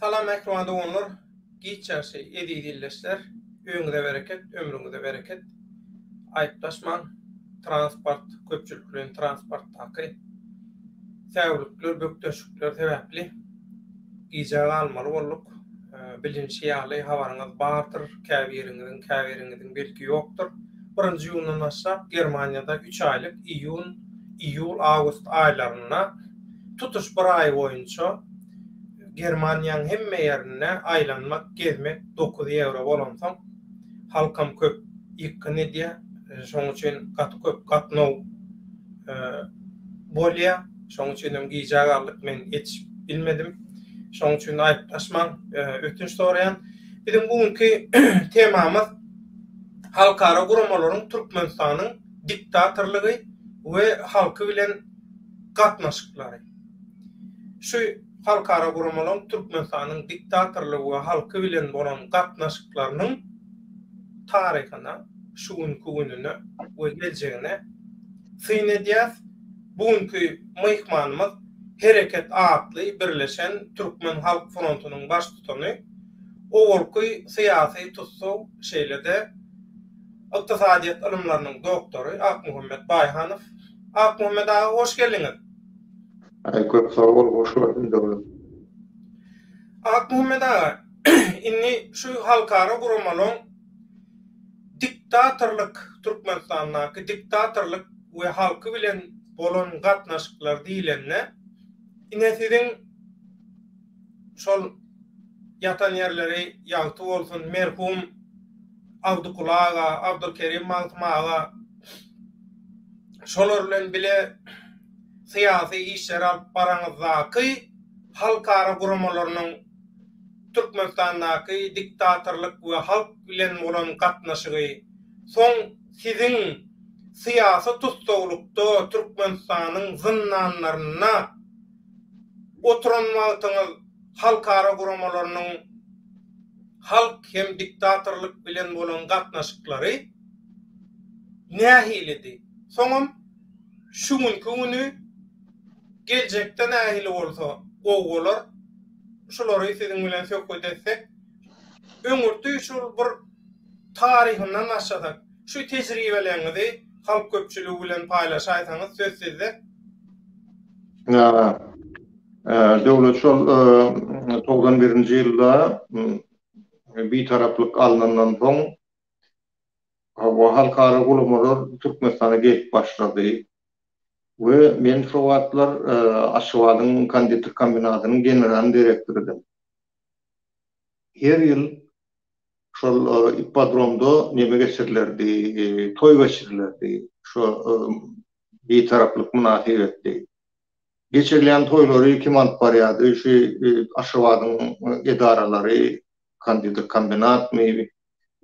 Salam mähriban doganlar giç ýagşy eziz ildeşler öňüze bereket ömrüňize bereket aýyplaşmaň transport köpçülikleýin transportdaky säwlikler bökdençlikler sebäpli gijä galmaly bolduk bilinşi ýaly habaryňyz bardyr käbiriňiziň käbiriňiziň belki ýokdur birinji ýundan başlap germaniýada üç aýlyk iýun iýul-awgust aýlarynda tutuş bir aý boýunça Germaniýanyň hemme ýerinde aýlanmak, gezmek dokuz ýewro bolansoň, halkam köp ýykgyn edýär. Şonuň üçin gaty köp gatnaw bolýar. Şonuň üçin hem gijä galdyk, men ýetişip bilmedim. Şonuň üçin aýyplaşmaň, ötünç soraýan. Biziň bu günki temamyz halkara guramalaryň Türkmenistanyň diktatorlygy we halky bilen gatnaşyklary. Şu halkara guramalaryň Türkmenistanyň diktatorlygy we halky bilen bolan gatnaşyklarynyň taryhyna, şu günki gününe we geljegine syn edýäs. Bu günki myhmanymyz Hereket atly birleşen Türkmen halk frontunyň baştutany, owalky syýasy tussag, şeýle-de, Ykdysadyýet ylymlarynyň doktory Akmuhammet Baýhanow. Akmuhammet aga, hoş geldiňiz! Köp sag bol, hoş gördüm dogry. Akmuhammet aga, indi şu halkara guramalaryň diktatorlyk, Türkmenistandaky diktatorlyk we halky bilen bolan gatnaşyklar diýlende, ine siziň şol ýatan ýerleri ýagty bolsun merhum Abdykuly aga, Abdulkerim Magtym aga şolar bilen bile syýasy işleri alyp baraňyzdaky halkara guramalarynyň Türkmenistandaky diktatorlyk we halk bilen bolan gatnaşygy soň siziň syýasy tussaglykda Türkmenistanyň zyndanlarynda Oturan wagtyňyz halkara guramalarynyň halk hem diktatorlyk bilen bolan gatnaşyklary nähilidi? Soňam şu günki güni geljekde nähili bolsa gowy bolar? Şulary siziň bilen söhbet etsek. Öňürti şol bir taryhyndan başlasak. Şu tejribeleriňizi halk köpçüligi bilen paýlaşaýsaňyz söz sizde. Döwlet şol togsan birinji ýylda bitaraplyk alnandan soň hawa halkara guramalar Türkmenistana gelip başlady we men şo wagtlar Aşgabadyň konditer kombinatynyň general direktorydyň. Her ýyl şol ippodromda neme geçirilerdi, toý geçirilerdi. Şo Bitaraplyk mynasybetli. Geçirilýän toýlary kim alyp barýardy? Şu Aşgabadyň edaralary, Kandydyr kombinatmy,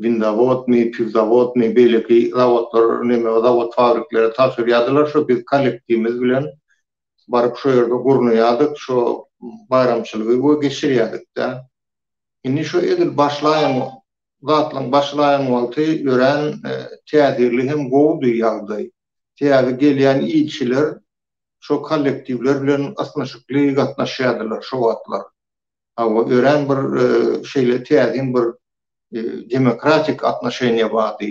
Windawodmy, Piwzawodmy, beýleki zawodlar, neme, zawod-fabriklere tabşyrýardylar. Şo biz kollektiwimiz bilen baryp şo ýerde gurnaýardyk, şo baýramçylygy we geçirýärdik-dä. Indi şo edil başlaýan zatlaryň başlaýan wagty örän täsirli hem gowudy ýagdaý. Täze gelýän ilçiler şo kollektiwler bilen ysnyşykly gatnaşýardylar şo wagtlar. Hawa, örän bir şeýle täsin bir demokratik atnoşeniýa bardy.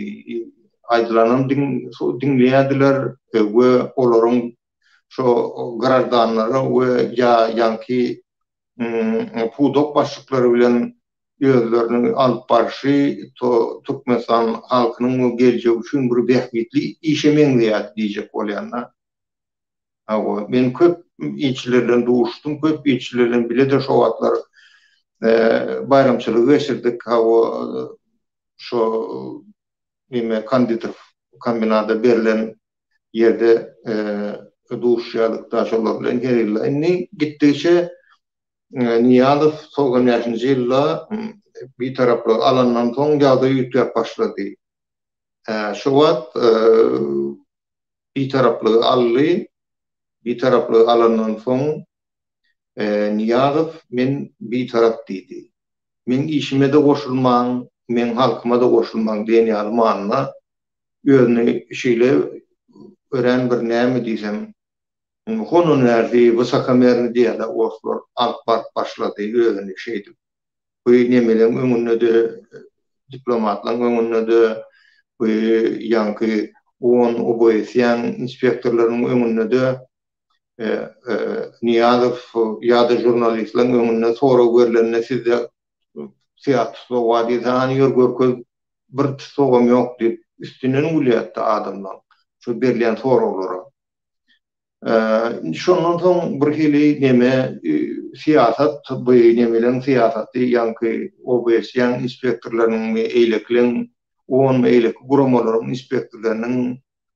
Aýdylanam diňleýärdiler we olaryň şo grajdanlara we ýa ýaňky pudak başlyklary bilen özlerini alyp barşy to Türkmenistan halkynyň we geljegi üçin bir bähbitli işe meňzeýär diýjek bolýan-da. Hawa, men köp ilçiler bilen duşdum, köp ilçiler bilen bile-de şo wagtlar baýramçylygy geçirdik, hawa, şo neme konditer kombinada berlen ýerde duşýarlykda şolar bilen her ýylda indi gitdigiçe Nyýazow togsan bäşinji ýylda Bitaraplygy alandan soň ýagdaý üýtgäp başlady. Şo wagt Bitaraplygy aldy. Bitaraplygy alandan soň Nyýazow men Bitarap diýdi. Meň işime-de goşulmaň, meň halkyma-da goşulmaň diýen ýaly manyda özüni şeýle örän bir näme diýsem, hononärli, wysokomernýý diýýärler orslar, alyp baryp başlady özüni şeýdip. Bu nemeleň öňünde-de, diplomatlaryň öňünde-de, bu ýaňky on oboýeşýän inspektorlaryň öňünde-de Nyýazow ýa-da žurnalistleriň öňünde sorag berlende sizde syýah tussaw bar diýse, hany ýör görkez, bir tussagam ýok diýip, üstünden gülýärdi adamlaryň şu berlen soraglara. Indi şondan soň birhili neme, syýasat, bu nemeleriň syýasaty, ýaňky OBS-iň inspektorlarynyňmy, eýlekiliň, onmy, eýleki guramalaryň inspektorlarynyň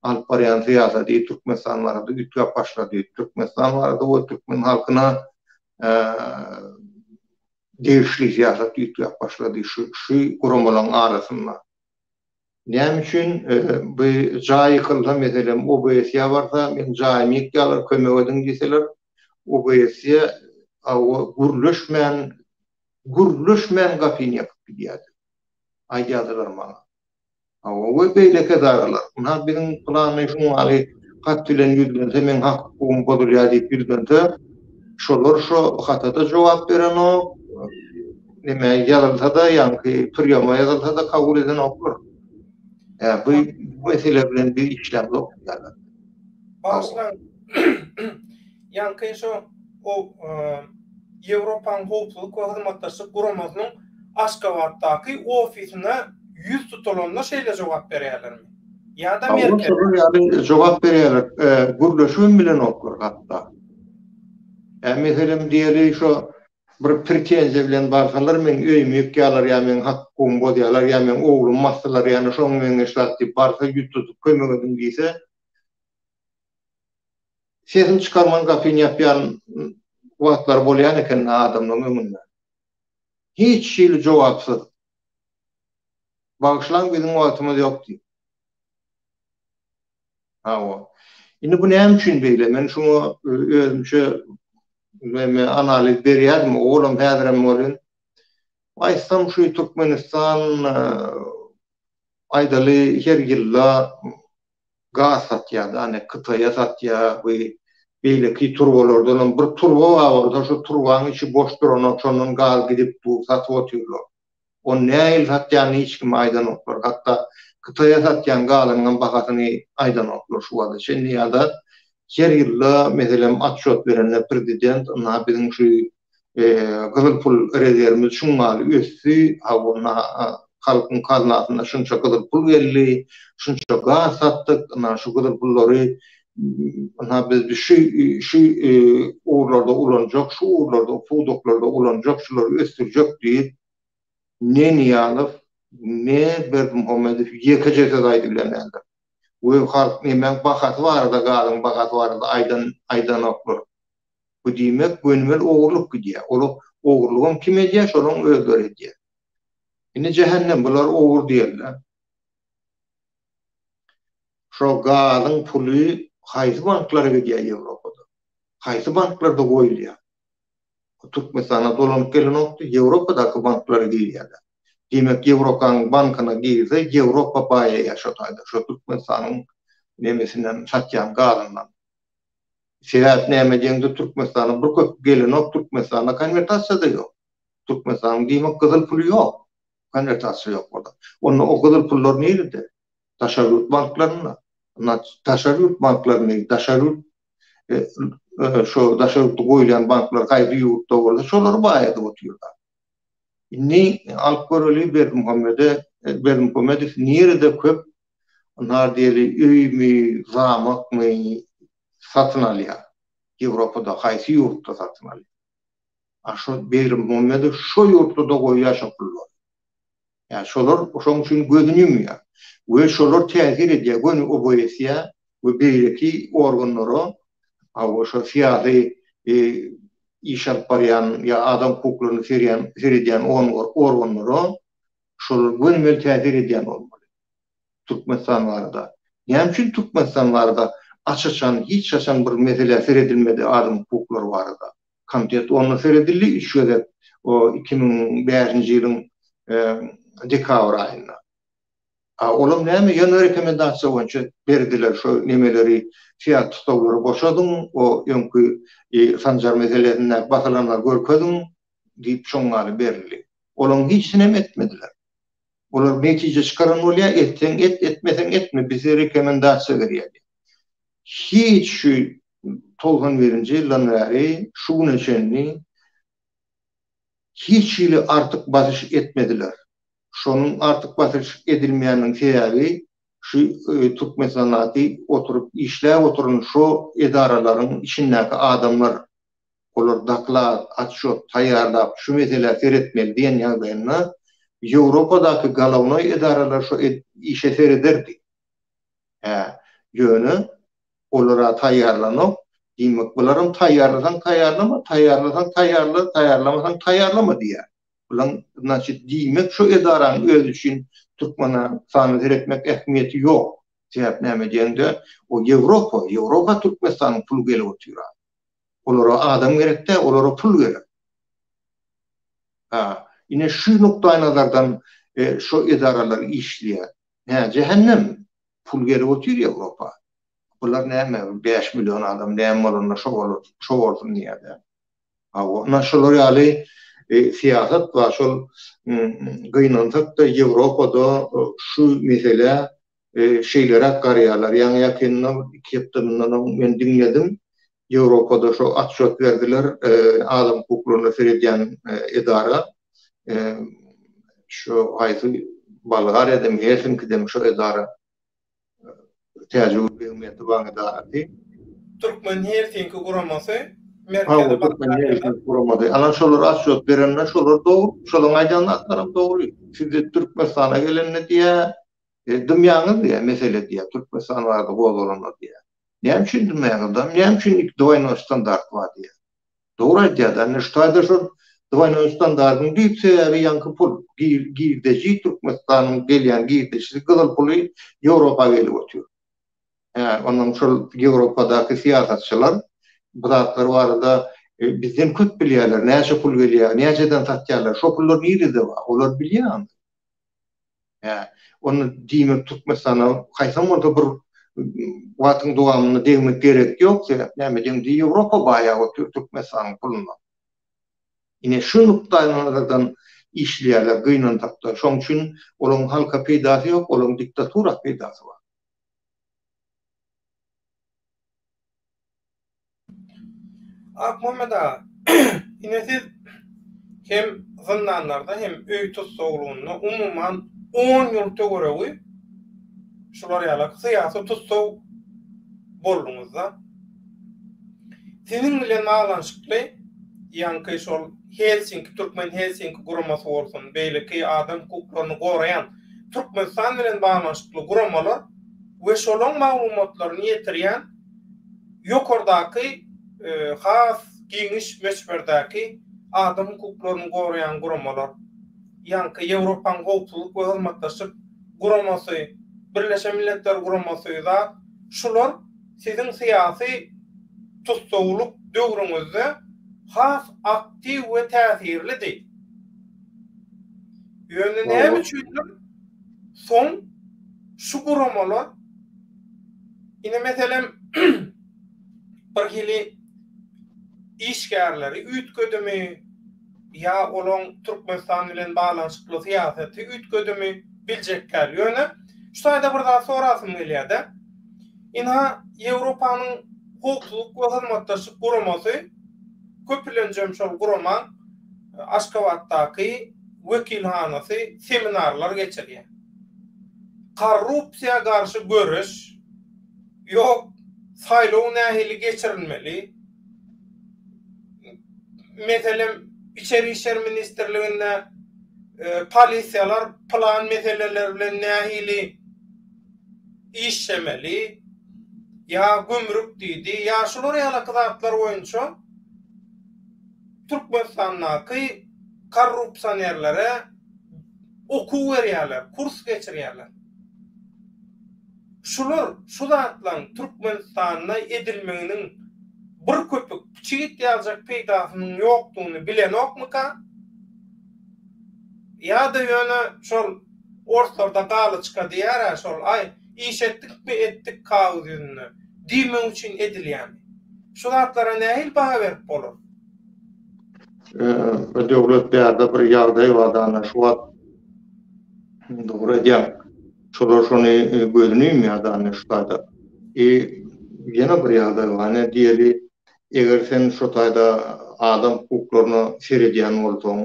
alyp barýan syýasaty Türkmenistan barada üýtgäp başlady. Türkmenistan barada we türkmen halkyna degişli syýasat üýtgäp başlady şu guramalaryň arasynda. Näme üçin bu jaý ýykylsa, meselem, OBSE-ýa barsa, meniň jaýymy ýykýarlar, kömek ediň diýseler, OBSE gürleşmän, gürleşmän gapyny ýapyp gidýärdi, aýdýardylar maňa. Hawa, beýleki edaralar. Ynha, biziň pylany şunuň ýaly hat bilen ýüzlense, meň hak-hukugym bozulýar diýip ýüzlense, şolar şo hata-da jogap berenok, neme ýazylsa-da, ýaňky priýoma ýazylsa-da kabul edenoklar. Ä, bu mesele bilen biz işlämzok. Bagşylaň. Ýaňky şo Ýewropanyň Howpsuzlyk we Hyzmatdaşlyk Guramasynyň Aşgabatdaky ofisine ýüz tutulanda şeýle jogap berýärlermi? Ýa-da Merkez? Howpsuzlyk ýaly jogap berýärler. Gürleşibem bilenoklar hatda. Ä meselem diýeli şo bir pretenziýa bilen barsalar meniň öýümi ýykýalar ýa meniň hak-hukugymy bozýalar ýa meniň oglumy basdylar ýa-da şonuň meňzeş zat diýip barsa ýüz tutup kömek ediň diýse, sesini çykarman gapyny ýapýan wagtlary bolýan eken adamlaryň öňünde. Hiç hili jogapsyz. Bagyşlaň biziň wagtymyz ýok diýip. Hawa. Indi bu näme üçin beýle? Men şuňa özümçe näme analiz berýärdim, olam häzirem bolýan. Aýtsam şu Türkmenistan aýdaly her ýylda gaz satýar da ane Kytaýa satýar we beýleki turbalardan hem bir turba bar bolsa şu turbanyň içi boş duranok şondan gaz gidip dur satyp otyrlar. Ony nähili satýanyny hiç kime aýdanoklar. Hatda Kytaýa satýan gazynyň hem bahasyny aýdanoklar şu wagta çenli ýa-da her ýylda meselem atçot berende prezident ynha biziň şu gyzyl pul rezerwimiz şuňňaly ösdi, hawwna halkyň kaznasyna şunça gyzyl pul geldi, şunça gaz satdyk, ynha şu gyzyl pullary ynha biz şu şu ugurlarda ulanjak, şu ugurlarda, pudaklarda ulanjak, şulary ösdürjek diýip, ne Nyýazow, ne Berdimuhamedow ýekeje söz aýdyp bilenlerdir. We halk nemäň bahasy barada, gazyň bahasy barada aýdan aýdanoklar. Bu diýmek gönümel ogurlyk gidýär. Ol ogurlygam kim edýär, şolaryň özleri edýär. Indi jähennem bular ogur diýerler. Şo gazyň puly haýsy banklara gidýär Ýewropada? Haýsy banklarda goýulýar? Türkmenistana dolanyp gelenokdy, Ýewropadaky banklara girýärler. Diýmek, Ýewropanyň bankyna girse, Ýewropa baýaýar şo taýda, şo Türkmenistanyň nemesinden, satýan gazyndan. Sebäp näme deňde Türkmenistanyň bir köpük gelenok Türkmenistanda konwertasiýada ýok. Türkmenistanyň diýmek gyzyl puly ýok. Konwertasiýa ýok bolsa. Onda o gyzyl pullar nirede? Daşary ýurt banklarynda. Daşary ýurt banklaryny daşary ýurt şo daşary ýurtda goýlan banklar haýsy ýurtda bolsa şolary baý edip otyrlar. Indi alyp göreli Berdimuhamede Berdimuhamedow nirede köp Nar diýeli öými, zamakmy satyn alýar. Ýewropada haýsy ýurtda satyn alýar. A şo Begrimmuhammedow şo ýurtlarda goýýar şo pullary. Ýa şolar şoň üçin gözüni ýumýar. We şolar täsir edýär göni OBSE-ýa we beýleki organlara aw şo syýasy iş alyp barýan ýa adam hukuklaryna seredýän organlara şolar gönümel täsir edýän bolmaly. Türkmenistan barada. Näme üçin Türkmenistan barada aç-açan hiç haçan bir meselä seredilmedi adam hukuklary barada. Kontent onda seredildi üç gezek o iki müň bäşinji ýylyň dekabr aýynda. A olam näme ýöne rekomendasiýa boýunça berdiler şo nemeleri fiat tusaglary boşadyň o öňki sanjar meselesindäki basylanlary görkeziň diýip çuňňany berildi. Olaň hiçinem etmediler. Olar netije çykaran bolýa, etseň et, etmeseň etme, bize rekomendasiýa berýä diýip. Hiç şu togsan birinji ýyldan bäri şu güne çenli hiç hili artyk basyş etmediler. Şonuň artyk basyş edilmeýäniniň sebäbi şu Türkmensanaty oturyp işläp oturan şo edaralaryň içindäki adamlar. olar doklad, otçýot taýýarlap, şu meselä seretmeli diýen ýagdaýynda, Ýewropadaky galownoý edaralar şo işe serederdi. Hä, ýöne olar-a taýýarlanok. Diýmek, bularam taýýarlasaň taýýarlama, taýýarlasaň taýýarla, taýýarlamasaň taýýarlama diýýär. Bulaň, znaçit, diýmek, şo edaranyň özi üçin Türkmenistana seretmek ähmiýeti ýok. Sebäp näme diýeňde, o Ýewropa, Ýewropa Türkmenistanyň puly gelip otyr-a. Olara adam gerek däl, olara pul gerek. Ha, ine şu nukdaýnazardan şu edaralar işleýär. Hä, jähennem. Pul gelip otyr Ýewropa. Bular näme, bäş million adam näme bolanda şo bolar, şo bolsun diýýärler. Hawa, ine şular ýaly syýasat bar. Şol gynansak-da Ýewropada şu meselä şeýleräk garýarlar. Ýaňy-ýakynda, iki hepde mundan oň men diňledim, Ýewropada şo atçot berdiler, adam hukuklaryna seredýän edara, şo haýsy Bolgariýadamy, Helsinkidemi şo edara, täjigül begiň mähriban edarasy. Türkmen Helsinki guramasy, Merkezi Bolgariýada. Guramady. Ana şolar atçot berende şolar dogry, şolaryň aýdan zatlaram dogry. Sizi Türkmenistana gelende diýýär, E, dymýaňyz diýýär, mesele diýýär, Türkmenistan barada gozgalanlar diýýär. Näme üçin dymýaňyz? Dam, näme üçin iki dwoýnoý standart bar diýýär. Dogry aýdýar-da, indi ştaýda şol dwoýnoý standardyň düýp sebäbi ýaňky pul, girdeji, Türkmenistanyň gelýän girdeçisi, gyzyl puly Ýewropa gelip otyr. Hä, onuň şol Ýewropadaky syýasatçylar bu zatlar barada e, bizden köp bilýärler, näçe pul gelýär, näçeden satýarlar, şo pullar nirede bar, olar bilýär. Hä. Onda diýmek Türkmenistana haýsam bolsa bir wagtyň dowamynda degmek gerek ýok, sebäp näme deňdi Ýewropa baýa otyr Türkmenistanyň puluna. Ine şu nukdaýnazardan işleýärler gynansakda. Şoň üçin olaň halka peýdasy ýok, olaň diktatura peýdasy bar. Akmuhammet aga, ine siz hem zyndanlarda hem öý tussaglygynda umuman on ýyl töweregi şular ýaly syýasy tussag bolduňyzda. Siziň bilen baglanyşykly ýaňky şol Helsinki, Türkmen Helsinki guramasy bolsun, beýleki adam hukuklaryny goraýan Türkmenistan bilen baglanyşykly guramalar we şolaň maglumatlaryny ýetirýän Ýokardaky has giňiş möçberdäki adam hukuklaryny goraýan guramalar, ýaňky Ýewropanyň Howpsuzlyk we Hyzmatdaşlyk Guramasy, Birleşen Milletler Guramasy zat, şular siziň syýasy tussaglyk döwrüňizde has aktiw we täsirlidi. Ýöne näme üçindir soň şu guramalar, Ine meselem bir hili işgärleri üýtgedimi ýa olaň Türkmenistan bilen baglanyşykly syýasaty üýtgedimi biljek däl. Ýöne şu taýda bir zat sorasym gelýär-de. Ina Ýewropanyň howpsuzlyk we hyzmatdaşlyk guramasy köplenjem şol guramaň Aşgabatdaky wekilhanasy seminarlar geçirýär. Korrupsiýa garşy göreş, ýok, saýlaw nähili geçirilmeli, meselem, Içeri işler ministrliginde polisiýalar plan meseleler bilen nähili işlemeli, ýa gümrük diýdi, ýa şular ýalaky zatlar boýunça Türkmenistandaky korrupsionerlere okuw berýärler, kurs geçirýärler. Şular, şu zatlaryň Türkmenistanda edilmeginiň bir köpük piçit ýaljak peýdasynyň ýokdugyny bilenokmyka? Ýa-da ýöne şol orslarda galyçka diýer-ä şol, aý, iş etdikmi etdik kagyz ýüzünde diýmek üçin edilýärmi? Şu zatlara nähili baha berip bolar? Ee döwlet bärde bir ýagdaý bar dana şu wagt dogry aýdýaň şolar şony gözüni ýumýar dana şu taýda i ýene bir ýagdaý bar ine diýeli eger sen şu taýda adam hukuklaryna seredýän bolsaň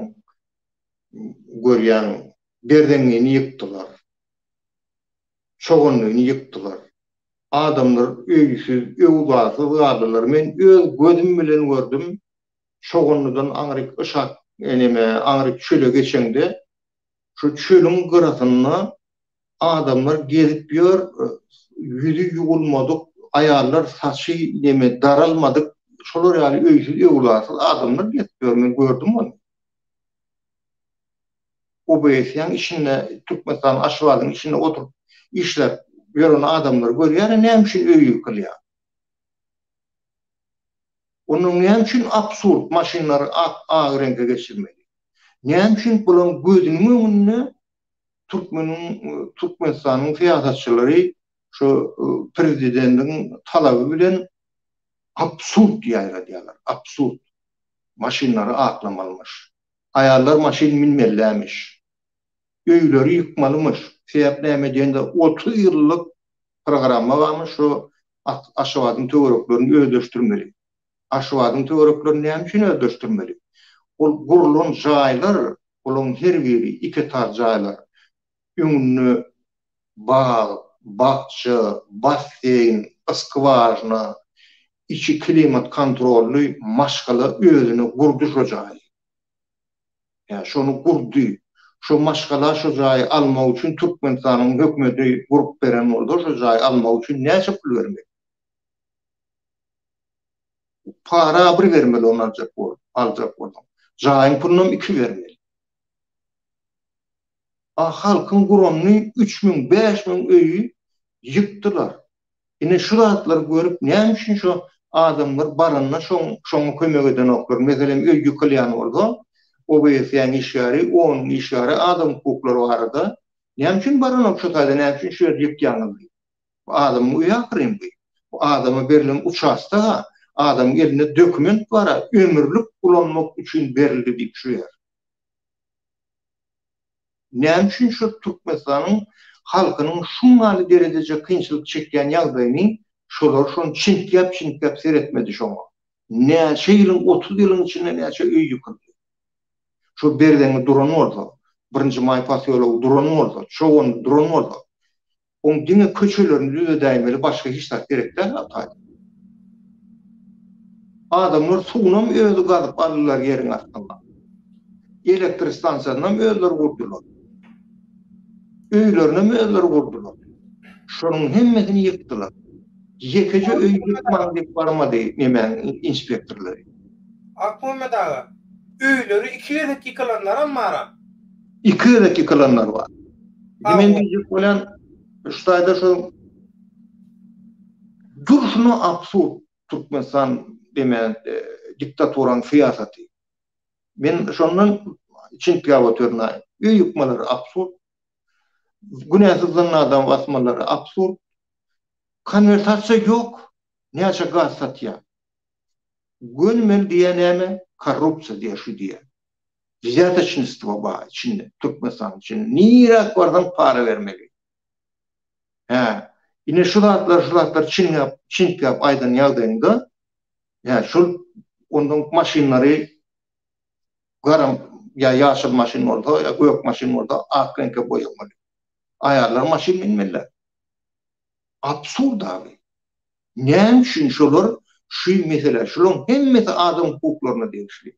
görýäň berzeňňini ýykdylar. çoganlygyny ýykdylar. Adamlar öýsüz, öwzasyz galdylar. Men öz gözüm bilen gördüm, çoganlydan aňryk yşak, eneme, aňryk çöle geçeňde, şu çölüň gyrasynda adamlar gezip ýör, ýüzi ýuwulmadyk aýallar, saçy, neme, daralmadyk, şolar ýaly öýsüz, öwzasyz adamlar gezip ýör, men gördüm ony. OBS-iň içinde, Türkmenistanyň Aşgabadyň içinde oturyp işläp ýören adamlary görýärin, näme üçin öýi ýykylýar? Onda näme üçin absurd maşynlary ak ak reňke geçirmeli? Näme üçin bularyň gözüniň öňünde türkmeniň Türkmenistanyň syýasatçylary şu prezidendiň talaby bilen absurd ýaýradýarlar, absurd maşynlary aklamylymyş. Aýallar maşyn münmelilämiş. Öýleri ýykmalymyş. Sebäp näme diýende otuz ýyllyk programma barmyş şu Aşgabadyň töwereklerini özleşdirmeli. Aşgabadyň töwereklerini näme üçin özleşdirmeli? Ol gurlan jaýlar olaň her biri iki etar jaýlar. öňünde bag, bakja, basseýn, skwažna, içi klimat kontrolly maşgala özüne gurdy şo jaýy. Ýa şony gurdy. Şo maşgala şo jaýy almak üçin Türkmenistanyň hökmeti gurup beren bolsa şo jaýy almak üçin näçe pul bermeli? Para bir bermeli ony aljak bolup, aljak bolsaň. Jaýyň pulunam iki bermeli. a halkyň guramny üç müň bäş müň öýi ýykdylar ine şu zatlary görüp näme üçin şo adamlar baranda şoň şoňa kömek edenoklar meselem öý ýykylýan bolsa obsýaň işgäri onuň işgäri adam hukuklary barada näme üçin baranok şo taýda näme üçin şu ýerdi ýykýaňyz diýip bu adamyň öýi ahyryn bu bu adama berlen uçastoga adamyň elinde dokument bara ömürlik ulanmak üçin berildi diýip şu ýer. Näme üçin şu Türkmenistanyň halkynyň şungaly derejeje kynçylyk çekýän ýagdaýyny şolar şon çintgäp çintgäp seretmedi şoňa. Näçe ýylyň otuz ýylyň içinde näçe öý ýykyldy. Şo Berzeňňi duran bolsa, birinji maý posýology duran bolsa, Çogandy duran bolsa, Oň diňe köçelerini düzedäýmeli başga hiç zat gerek däl Arkady. Adamlar suwunam özi gazyp aldylar ýeriň astyndan. Elektrik stansiýasynam özleri gurdular. Öýlerinem özleri gurdular. Şonuň hemmesini ýykdylar. Ýekeje öý ýykmaň diýip barmady nemäň inspektorlary. Akmuhammet aga, öýleri iki gezek ýykylanlaram bara. Iki gezek ýykylanlar bar. Indi men diýjek bolýan, şu taýda şu durşuna absurd Türkmenistan diýmän, diktaturanyň syýasaty. Men şondan içintiläp oturnaýyn. Öý ýykmalary absurd. Günäsiz dynly adamy basmalary absurd. Konwertasiýa ýok. Näçe gaz satýar? Gönümel diýýä näme? Korrupsiýa diýýä, şu diýýä. Wzýatoçnistwo bar içinde, Türkmenistanyň içinde. Niräk barsaň para bermeli. Hä, ine şu zatlar, şu zatlar çiňňäp, çiňkäp aýdan ýagdaýyňda, hä, şol ondan maşynlary garam ýa ýaşyl maşyn bolsa, ýa gök maşyn bolsa, ak reňke boýamaly. Aýallar maşyn minmeliler. Absurd abi. Näme üçin şolar şu mesele, şolaryň hemmesi adam hukuklaryna degişli.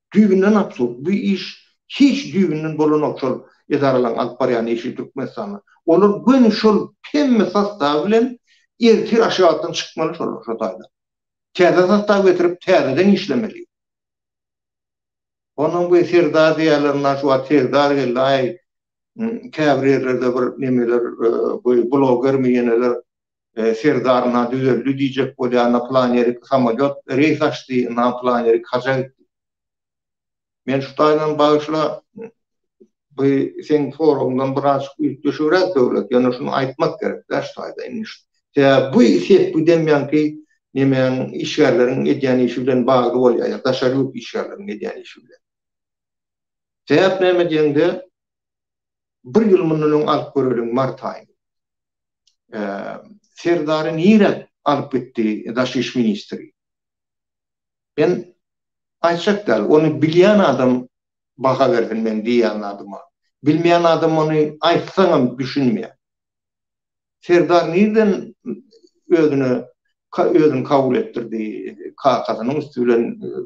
Düýbünden absurd. Bu iş hiç düýbünden bolanok şol edaralaryň alyp barýan işi Türkmenistanda. Olar göni şol hemme sostawy bilen ertir aşgabatdan çykmaly şolar şo taýdan. Täze sostaw getirip täzeden işlemeli. Onam bu serdar diýýärler naş wagt serdar geldi aý käbir ýerlerde bir nemeler goý blogermi ýeneler Serdar na düzeldi diýjek bolýar, na plan ýerik samolýot reýs açdy, na plan ýerik haja gitdi. Men şu taýdan bagyşla, bu seň soragyňdan birazajyk üýtgeşigräk Döwlet, ýöne şuny aýtmak gerek-dä şu taýda. Indi şu sebäbi bu sepgi demýänki nemäň işgärleriň edýän işi bilen bagly bolýar ýa daşary ýurt işgärleriň edýän işi bilen. Sebäp näme diýeňde, bir ýyl mundan öň alyp göreliň mart aýyny. Serdary nirä alyp gitdi daş iş ministri? Men aýtjak däl, ony bilýän adam baha bersin meň diýýän zadyma. Bilmeýän adam ony aýtsaňam düşünmeýär. Serdar nirden özüne özüni kabul etdirdi? Kakasynyň üsti bilen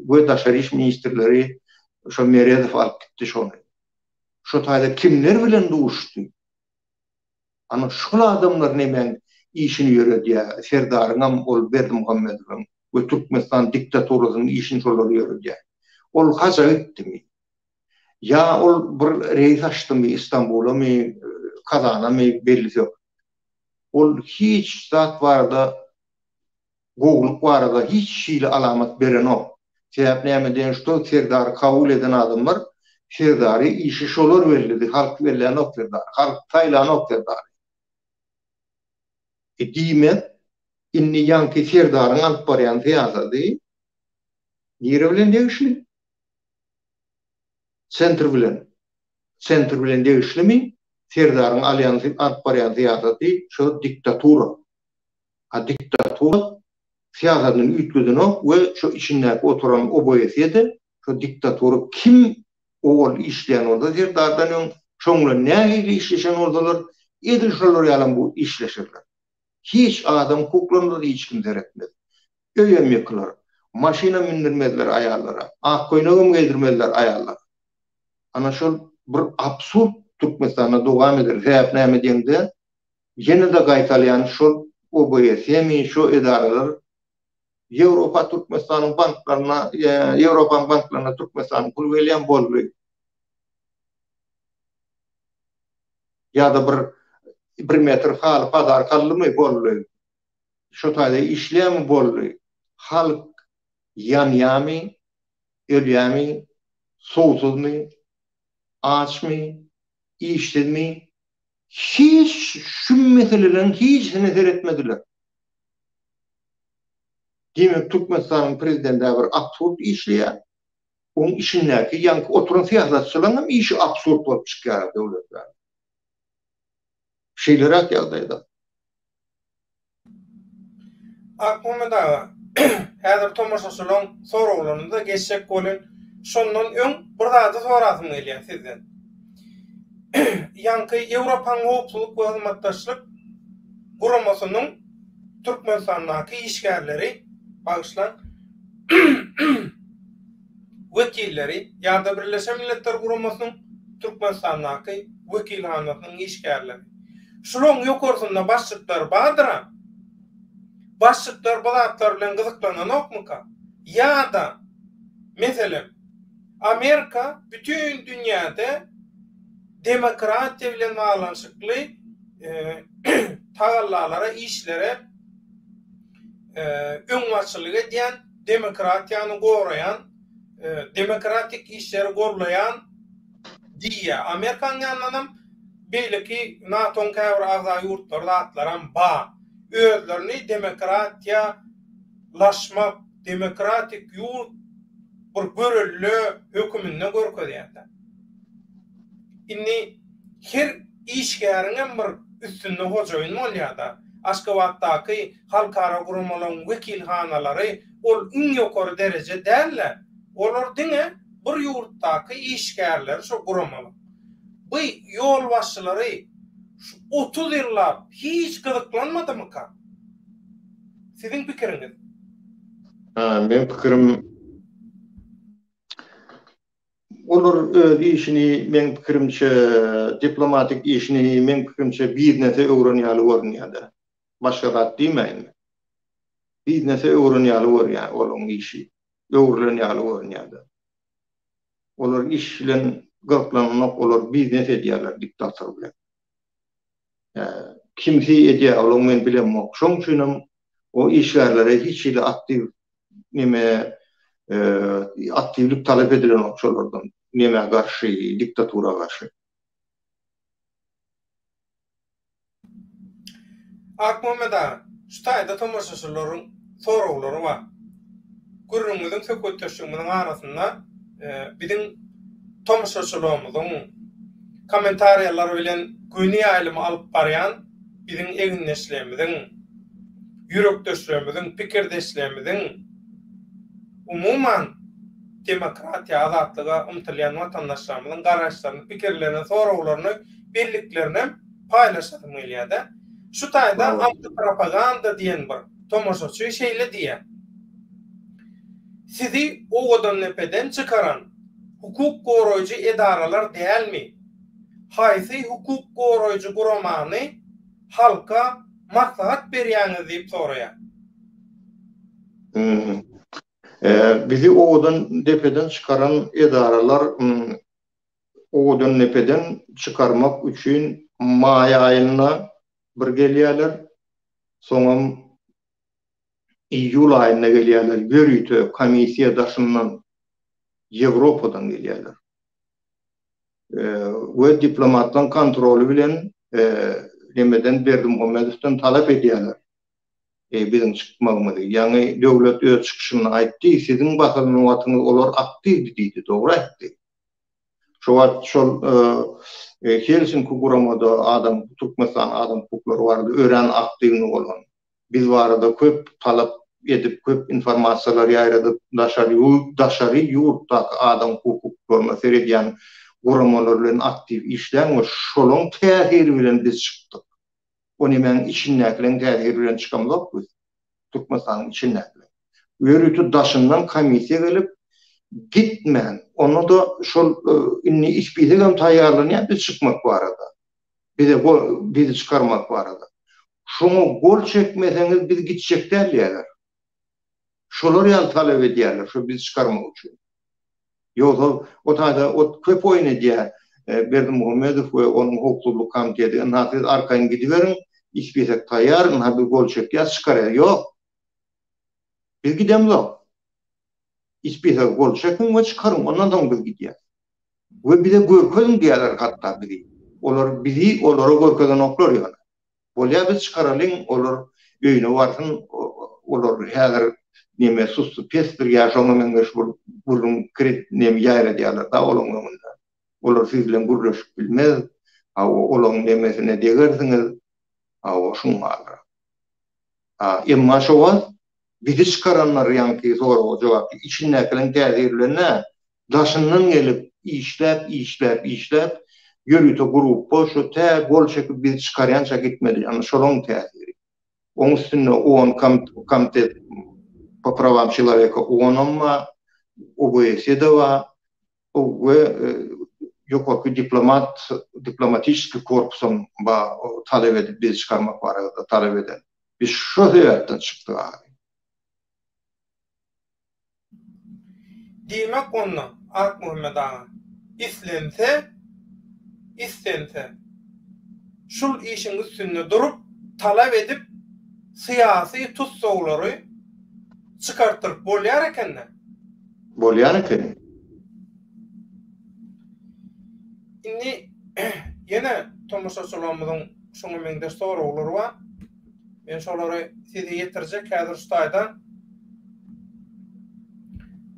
we daşary iş ministrleri şo Meredow alyp gitdi şony. Şo taýda kimler bilen duşdy? Ana şul adamlar nemäň işini ýöredýä, Serdaryňam, ol Berdimuhamedowyň we Türkmenistan diktaturasynyň işini şolar ýöredýä. Ol haja gitdimi? Ýa ol bir reýs açdymy Istanbulamy, Kazanamy bellisok. Ol hiç zat barada gowulyk barada hiç hili alamat berenok. Sebäp näme diýen şuda serdary kabul eden adamlar serdary işi şolar bellidi halk bellänok serdary halk saýlanok serdary e diýmek indi ýaňky serdaryň alyp barýan syýasaty nire bilen degişli sentr bilen sentr bilen degişlimi serdaryň alýan alyp barýan syýasaty şo diktatura. a diktatura syýasatyny üýtgedenok we şo içindäki oturan oboesiýede şo diktatura kim owal işleýän bolsa serdardan öň şoň bilen nähili işleşen bolsalar edil şolar ýalam bu işleşerler hiç adam kuklanmaz hiç kim seretmez öýem ýykylar maşynam mündirmezler aýallara ak köýnegem geýdirmezler aýallara ana şol bir absurd türkmenistanda dowam eder sebäp näme diýeňde Ýene-de gaýtalýan şol OBSE-mi, şo edaralar Ýewropa Türkmenistanyň banklaryna, Ýewropanyň banklaryna Türkmenistanyň puly gelýän boldy. Ýa-da bir bir metr haly bazar kaldymy boldy. Şo taýda işleýärmi boldy. Halk ýanýamy, ölýämi, suwsuzmy, açmy, işsizmi, hiç şu meseleleriň hiçisine seretmediler. Diýmek Türkmenistanyň prezidendä bir absurd işleýär. Oň içindäki ýaňky oturan syýasatçylaryňam işi absurd bolup çykýar döwletmäm. Şeýleräk ýagdaýda Akmuhammet aga, häzir tomaşaçylaryň soraglaryna-da geçjek bolun. Şondan öň bir zady sorasym gelýär sizden. Ýaňky Ýewropanyň Howpsuzlyk we Hyzmatdaşlyk Guramasynyň Türkmenistandaky işgärleri, bagyşlaň, wekilleri ýa-da Birleşen Milletler Guramasynyň Türkmenistandaky wekilhanasynyň işgärleri. Şularyň ýokarsynda başlyklar bardyr-a? Başlyklar bu zatlar bilen gyzyklananokmyka? Ýa-da, meselem, Amerika bütin dünýäde demokratiýa bilen baglanyşykly tagallalara, işlere, öňbaşçylyk edýän, demokratiýany goraýan, demokratik işleri goldaýan diýýär. Amerikanyň ýanyndanam beýleki NATO-nyň käbir agza ýurtlary zatlaram bar. Özlerini demokratiýa laşmak, demokratik ýurt bir görelde höküminde görkezýärler. Indi. Her işgäriňem bir üstünde hojaýyn bolýar-da. Aşgabatdaky halkara guramalaryň wekilhanalary ol iň ýokary dereje däl-de, olar diňe bir ýurtdaky işgärleri şo guramalyň. Bu ýolbaşçylary şu otuz ýyllap hiç gyzyklanmadymyka? Siziň pikiriňiz? Meň pikirim, Olar öz işini, meň pikirimçe, diplomatik işini, meň pikirimçe, biznese öwren ýaly görünýär-de. Başga zat diýmäýin-le. Biznese öwren ýaly görýär olaryň işi. Öwrülen ýaly görünýär-de. Olar iş bilen gyzyklananok, olar biznes edýärler diktator bilen. Kimsi edýär, olaň men bilemok. Şoň üçinem o işgärlere hiç hili aktiw neme aktiwlik talap edilenok şolardan nemä garşy, diktatura garşy. Akmuhammet aga, şu taýda tomaşaçylaryň soraglary bar. Gürrüňimiziň, söhbetdeşligimiziň arasynda biziň tomaşaçylygymyzyň kommentariýalary bilen göni ýaýlymy alyp barýan biziň egindeşlerimiziň, ýürekdeşlerimiziň, pikirdeşlerimiziň, umuman, demokratiýa, azatlyga ymtylýan watandaşlarymyzyň garaýyşlaryny, pikirlerini, soraglaryny birliklerinem paýlaşasym gelýär-de. Şu taýda antipropaganda diýen bir. Tomaşaçy şeýle diýýär, Sizi owadandepeden çykaran hukuk goraýjy edaralar dälmi? Haýsy hukuk goraýjy guramany halka maslahat berýäňiz diýip soraýar. Bizi owadandepeden çykaran edaralar owadandepeden çykarmak üçin maý aýynda bir gelýärler, soňam iýul aýynda gelýärler, ýörite komissiýa daşyndan, Ýewropadan gelýärler. We diplomatlaryň kontroly bilen nemeden Berdimuhamedowdan talap edýärler biziň çykmagymyzy. Ýaňy döwlet öz çykyşynda aýtdy, siziň basylan wagtyňyz olar aktiwdi diýdi, dogry aýtdy. Şo wagt şol Helsinki guramada adam, Türkmenistanyň adam hukuklary barada örän aktiwnyý bolan. Biz barada köp talap edip, köp informasiýalar ýaýradyp, daşary ýurt, daşary ýurtdaky adam hukuklaryna seredýän guramalar bilen aktiw işlän we şolaň täsiri bilen biz çykdyk. O nemäň içindäkileň täsiri bilen çykamzok biz, Türkmenistanyň içindäkileň. Ýörite daşyndan komissiýa gelip, gitmän, onda-da şol indi ispitagam taýýarlanýar biz çykmak barada. Bize go bizi çykarmak barada. Şoňa gol çekmeseňiz biz gitjek däl diýýärler. Şolar ýaly talap edýärler, şo bizi çykarmak üçin. Ýogsa o taýda ot köp oýun edýär, Berdimuhamedow we onuň howpsuzlyk komiteti, ynha siz arkaýyn gidiberiň, ispesek taýýar, ynha biz gol çekýäs, çykarýas, ýok. Biz gidemzok. Ispesek gol çekiň we çykaryň, ondan soň biz gidýäs. We bize görkeziň diýýärler hatda bizi. Olar bizi olara görkezenoklar ýöne. Bolýa biz çykaralyň olar öýüne barsyn olar häzir neme sussy pesdir ýa şoňa meňzeş bolup burun kredit neme ýaýradýarlar da olaň öňünde olar siz bilen gürleşip bilmez hawa olaň nemesine degersiňiz hawa şuň maly a emma şo wagt bizi çykaranlar ýaňky soraga jogap içindäkileriň täsiri bilen däl daşyndan gelip işläp işläp işläp ýörite gruppa şu tä gol çekip biz çykarýança gitmedi ýagny şolaň täsiri oň üstünde on komtet po prawam çeloweka onam bar obs de bar we ýokarky diplomat diplomatisskiý korpusam bar talap edip bizi çykarmak barada talap eden biz şo sebäpden çykdyk ahyry. Diýmek onda, Akmuhammet aga, islense, istense, şul işiň üstünde durup, talap edip, syýasy tussaglary çykartdyryp bolýar eken-dä? Bolýar eken. Indi ýene tomaşaçylarymyzyň şuňa meňzeş soraglary bar. Men şolary size ýetirjek häzir şu taýda.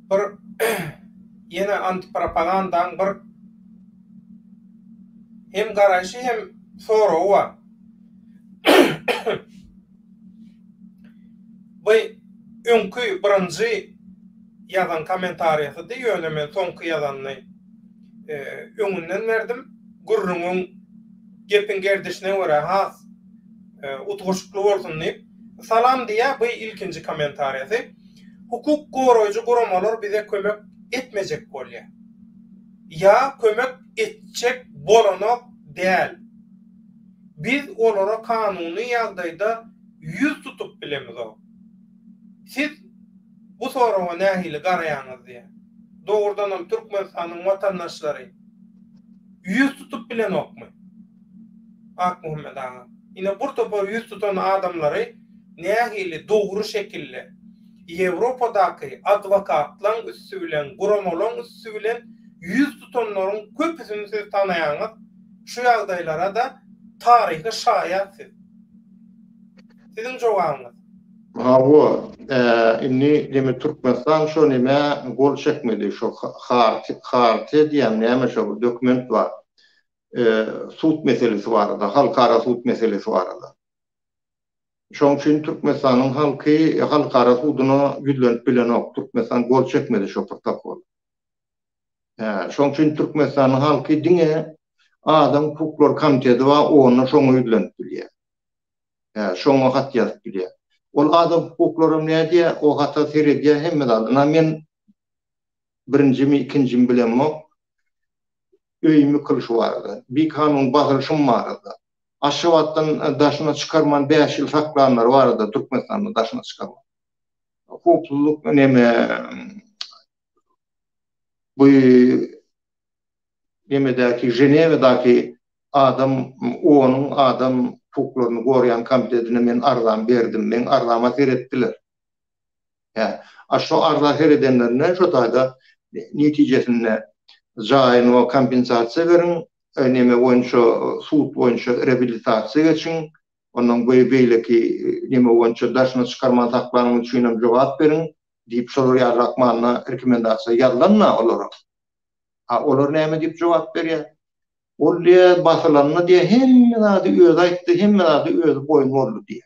Bir ýene antipropagandaň bir hem garaýşy hem soragy bar. Bu öňki birinji ýazan kommentariýasydy, ýöne men soňky ýazanyny e, öňünden berdim. Gürrüňiň gepiň gerdişine görä has Utgaşykly bolsun diýip Salam diýýär bu ilkinji kommentariýasy. Hukuk goraýjy guramalar bize kömek etmejek bolýar. Ýa kömek etjek bolanok däl. Biz olara kanuny ýagdaýda ýüz tutup bilemizok. Siz bu soraga nähili garaýaňyz diýýär. Dogrudanam Türkmenistanyň watandaşlary ýüz tutup bilenokmy? Akmuhammet aga, ine bur topar ýüz tutan adamlary nähili dogry şekilli Ýewropadaky adwokatlaň üsti bilen, guramalaň üsti bilen ýüz tutanlaryň köpüsini siz tanaýaňyz, şu ýagdaýlara-da taryhy şaýat siz. Siziň jogabyňyz. Hawa, indi demi Türkmenistan şo nämä gol çekmedi, şo Hartiýa diýýämi näme şo bir dokument bar. sud meselesi barada, halkara sud meselesi barada. Şoň üçin Türkmenistanyň halky halkara suduna ýüzlenip bilenok, Türkmenistan gol çekmedi şo protokola. Hä, şoň üçin Türkmenistanyň halky diňe Adam hukuklary komiteti bar, onda şoňa ýüzlenip bilýär. Hä, şoňa hat ýazyp bilýär. Ol adam hukuklaram nädýär, o hata seredýär hemme zat. Ynha men birinjimi ikinjimi bilemok öýümi kylşybarada bikanun basylyşym barada Aşgabatdan daşyna çykarman bäş ýyl saklanlary barada Türkmenistandan daşyna çykarman howpsuzlyk neme bu nemedäki Ženewadaky adam onuň adam hukuklaryny gorýan komitetine men arzam berdim meň arzama seretdiler. Hä. A şo arza her edenlerine şo taýda netijesinde jaýyňa kompensasiýa beriň, neme boýunça sud boýunça reabilitasiýa geçiň, ondan beýi beýleki neme boýunça daşyna çykarman saklanyň üçinem jogap beriň diýip şolar ýalyrak manyda rekomendasiýa ýazylanda olara. A olar näme diýip jogap berýär? Ol diýýä basylanda diýýä hemme zady özi aýtdy, hemme zady özi boýun boldy diýýä.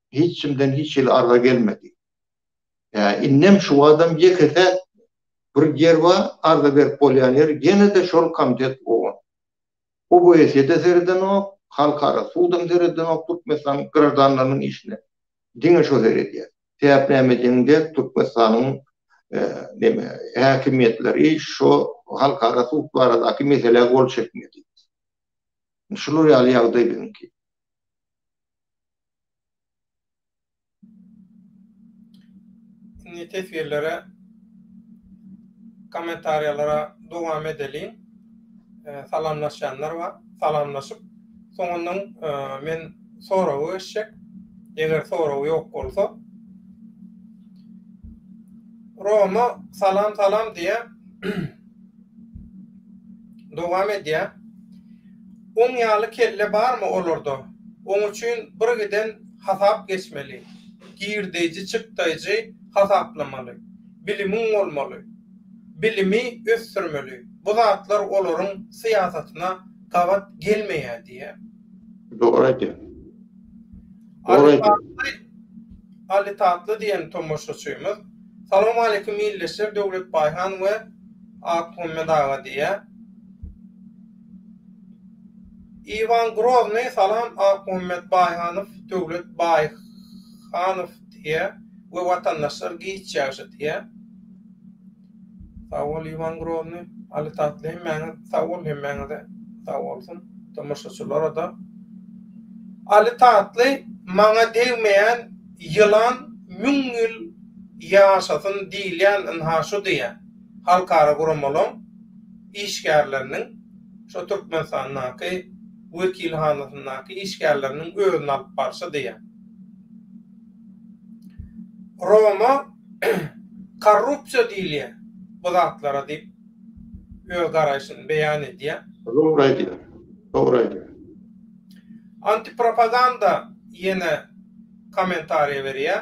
hiç kimden hiç hili arza gelmedi. Ýa indem şu badam ýeke-täk bir ýer bar, arza berip bolýan ýer, ýene-de şol komitet bolan. OBS-de seredenok, halkara sudam seredenok Türkmenistanyň graždanlarynyň işine. Diňe şo seredýär. Sebäp näme diýseň dek Türkmenistanyň neme, häkimiýetleri şo halkara sud baradaky meselä gol çekmedi. Şular ýaly ýagdaý biziňki. Indi teswirlere kommentariýalara dowam edeliň. Salamlaşýanlar bar. Salamlaşyp, soňundan men soraga geçjek. Eger sorag ýok bolsa. Roma salam salam diýýär. Dowam edýär. Oň ýaly kelle barmy olarda? Oň üçin bir giden hasap geçmeli, girdeýji çykdaýjy hasaplamaly, bilimiň bolmaly, bilimi ösdürmeli, bu zatlar olaryň syýasatyna gabat gelmeýär diýýär. Dogry aýdýar. Alytatly Alytatly diýen tomaşaçymyz Salam aleýkum ildeşler Döwlet Baýhan we Akmuhammet aga diýýär. Iwan Groznyý Salam Akmuhammet Baýhanow Döwlet Baýhanow diýýär we watandaşlar giç ýagşy diýýär. Sag bol Iwan Grozny Ali Tatly hemmäňiz sag bol hemmäňize sag bolsun tomaşaçylarada Ali Tatly maňa degmeýän ýylan müň ýyl ýaşasyn diýilýän ynha şu diýe halkara guramalaň işgärleriniň şo Türkmenistandaky wekilhanasyndaky işgärleriniň özüni alyp barşy diýe Roma Korrupsiýa diýilýär bu zatlara diýip öz garaýşyny beýan edýär. Dogry aýdýar. Dogry aýdýar. Antipropaganda ýene kommentariýa berýär.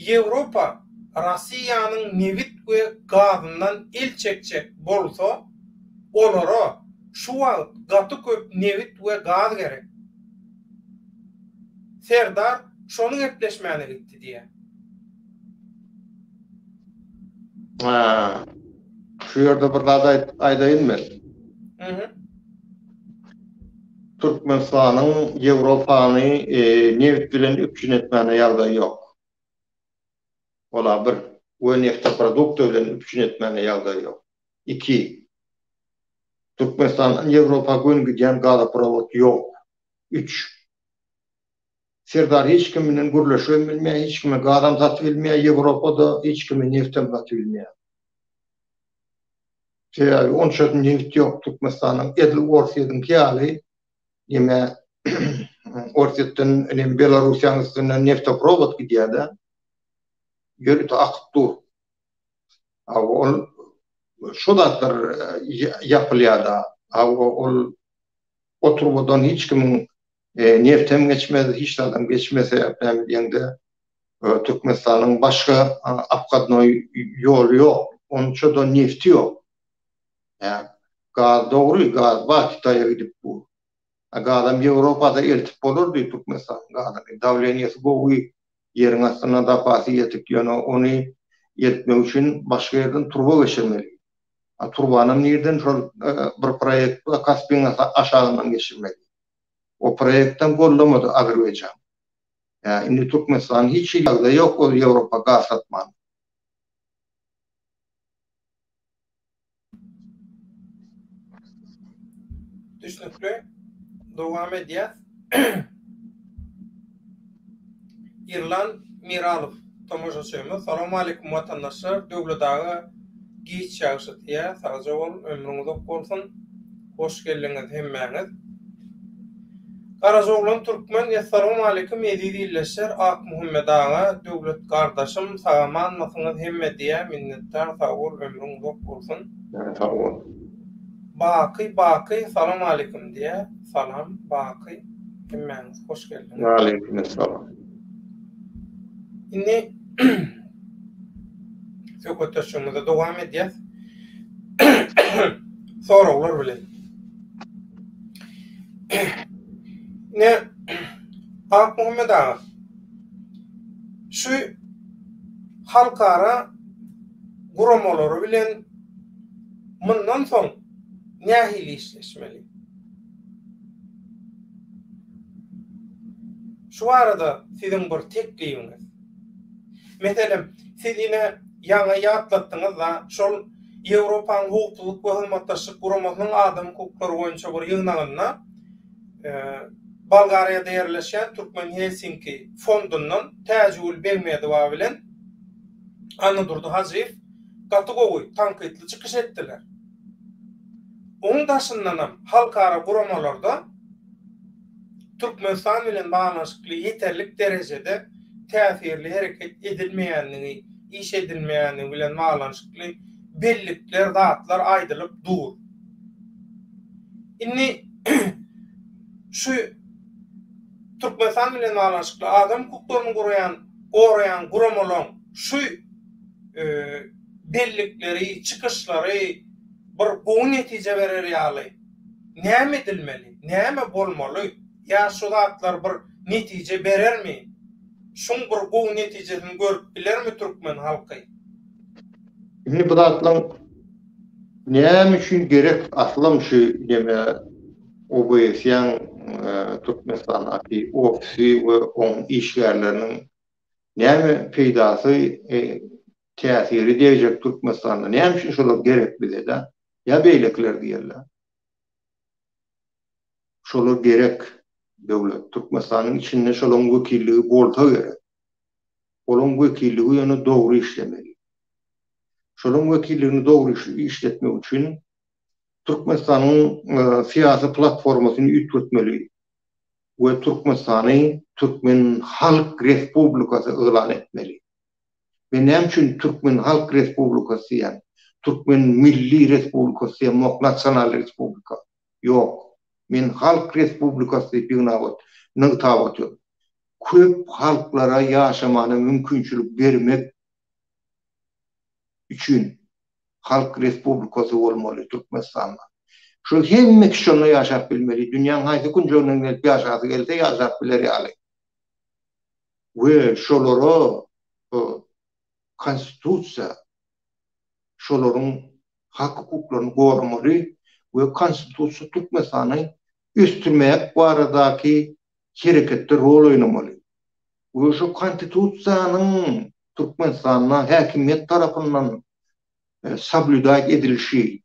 Ýewropa Rossiýanyň nebit we gazyndan el çekjek bolsa, olara şu wagt gaty köp nebit we gaz gerek. Serdar şony gepleşmäne gitdi diýýär. Şu ýerde bir zat aýdaýyn men. Türkmenistanyň Ýewropany nebit bilen üpjün etmäne ýagdaýy ýok. Ol-a bir. We neftoprodukty bilen üpjün etmäne ýagdaýy ýok. Iki. Türkmenistandan Ýewropa göni gidýän gazoprowod ýok. Üç. Serdar hiç kim bilen gürleşibem bilmeýär, hiç kime gazam satyp bilmeýär, Ýewropada hiç kime nebtem satyp bilmeýär. Sebäbi onça nebit ýok Türkmenistanyň, edil Orsýetiňki ýaly ýeme Orsýetden inem Belarussiýanyň üstünden neftoprovod gidýär-de, ýörite akyp dur. A ol şu zatlar ýapylýar-da, a ol o turbadan hiç kimiň Nebtem geçmez, hiç zadam geçmez sebäpli näme diýeňde Türkmenistanyň başga obhodnoý ýoly ýok, onça-da nebti ýok. Hä, gaz dogry, gaz bar, Kitaýa gidip bu. A gazam Ýewropada eltip bolardy Türkmenistanyň gazyny. Dawleniýesi gowy, ýeriň astynda zapasy ýetik, ýöne ony eltmek üçin başga ýerden turba geçirmeli. A turbanam nirden şol bir proýekt bar, Kaspiň aşagyndan geçirmeli. O proýektem gollamady Azerbaýjan. Ýa indi Türkmenistanyň hiç hili ýagdaýy ýok ol Ýewropa gaz satmagyň. Düşnükli. Dowam edýäs. Irlan Miralow tomaşaçymyz Salowmalikim watandaşlar Döwlet aga giç ýagş etýä sagja bol ömrüň uzak bolsun hoş geldiňiz hemmäňiz Garajaoglan Türkmen Essalowmalikim eziz ildeşler Akmuhammet aga Döwlet gardaşym sagamanmysyňyz hemme diýä minnetdar sag bol ömrüň uzak bolsun sag bol Baky Baky Salowmalikim diýä salam Baky hemmäňiz. Hoş geldiň. Aleyküm esselam. Indi söhbetdeşligimize dowam edýäs. Soraglar bilen. Ne Ak Muhammed aga. Şu halkara guramalary bilen mundan soň nähili işleşmeli? Şu barada siziň bir teklibiňiz. Meselem, siz ine ýaňy ýatlatdyňyz-da, şol Ýewropanyň Howpsuzlyk we Hyzmatdaşlyk Guramasynyň adam hukuklary boýunça bir ýygnagynda Bolgariýada ýerleşýän Türkmen Helsinki fondundan Täjigül Begmedowa bilen Annadurdy Hajyýew gaty gowy, tankytly çykyş etdiler. Onuň daşyndanam halkara guramalarda Türkmenistan bilen baglanyşykly ýeterlik derejede täsirli hereket edilmeýändigi, iş edilmeýändigi bilen baglanyşykly bellikler, zatlar aýdylyp dur. Indi şu Türkmenistan bilen baglanyşykly adam hukuklaryny guraýan, goraýan guramalaryň şu bellikleri, çykyşlary bir gowy netije berer ýaly näme edilmeli, näme bolmaly, ýa şu zatlar bir netije berermi, şuň bir gowy netijesini görüp bilermi türkmen halky? Indi bu zatlaryň näme üçin gerek aslam şu neme OBS-iň Türkmenistandaky ofisi we oň işgärleriniň näme peýdasy täsiri degjek Türkmenistanda näme üçin şolar gerek bizede ýa beýlekiler diýerler şolar gerek döwlet Türkmenistanyň içinde şolaň wekilligi bolsa gerek olaň wekilligi ýöne dogry işlemeli şolaň wekilligini dogry işletmek üçin Türkmenistanyň syýasy platformasyny üýtgetmeli. we Türkmenistany Türkmen Halk Respublikasy yglan etmeli. Men näme üçin Türkmen Halk Respublikasy diýýän? Türkmen Milli Respublikasy diýemok, Nasional Respublika. Ýok. Men Halk Respublikasy diýip ýygnabat, nygtap otyryn. Köp halklara ýaşamana mümkinçilik bermek. üçin halk respublikasy bolmaly Türkmenistanda. Şol hemme kişi onda ýaşap bilmeli, dünýäň haýsy künjeginden gelip ýaşasy gelse ýaşap biler ýaly. We şolara bu konstitusiýa şolaryň hak hukuklaryny goramaly we konstitusiýa Türkmenistany ösdürmek baradaky hereketde rol oýnamaly. we şu Konstitusiýanyň Türkmenistanda häkimiýet tarapyndan soblýudat edilişi,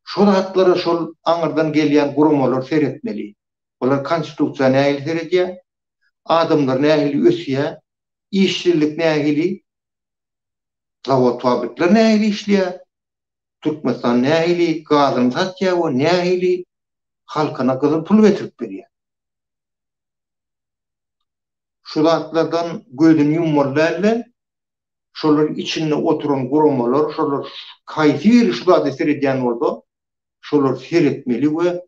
şo zatlara şol aňyrdan gelýän guramalar seretmeli. Olar Konstitusiýa nähili seredýär, adamlar nähili ösýär, işsizlik nähili, zawod-fabrikler nähili işleýär, Türkmenistan nähili gazyny satýar we nähili halkyna gyzyl pul getirip berýär. şu zatlardan gözüni ýummaly däldi. Şolaryň içinde oturan guramalar, şolar haýsy biri şu zada seredýän bolsa, şolar seretmeli we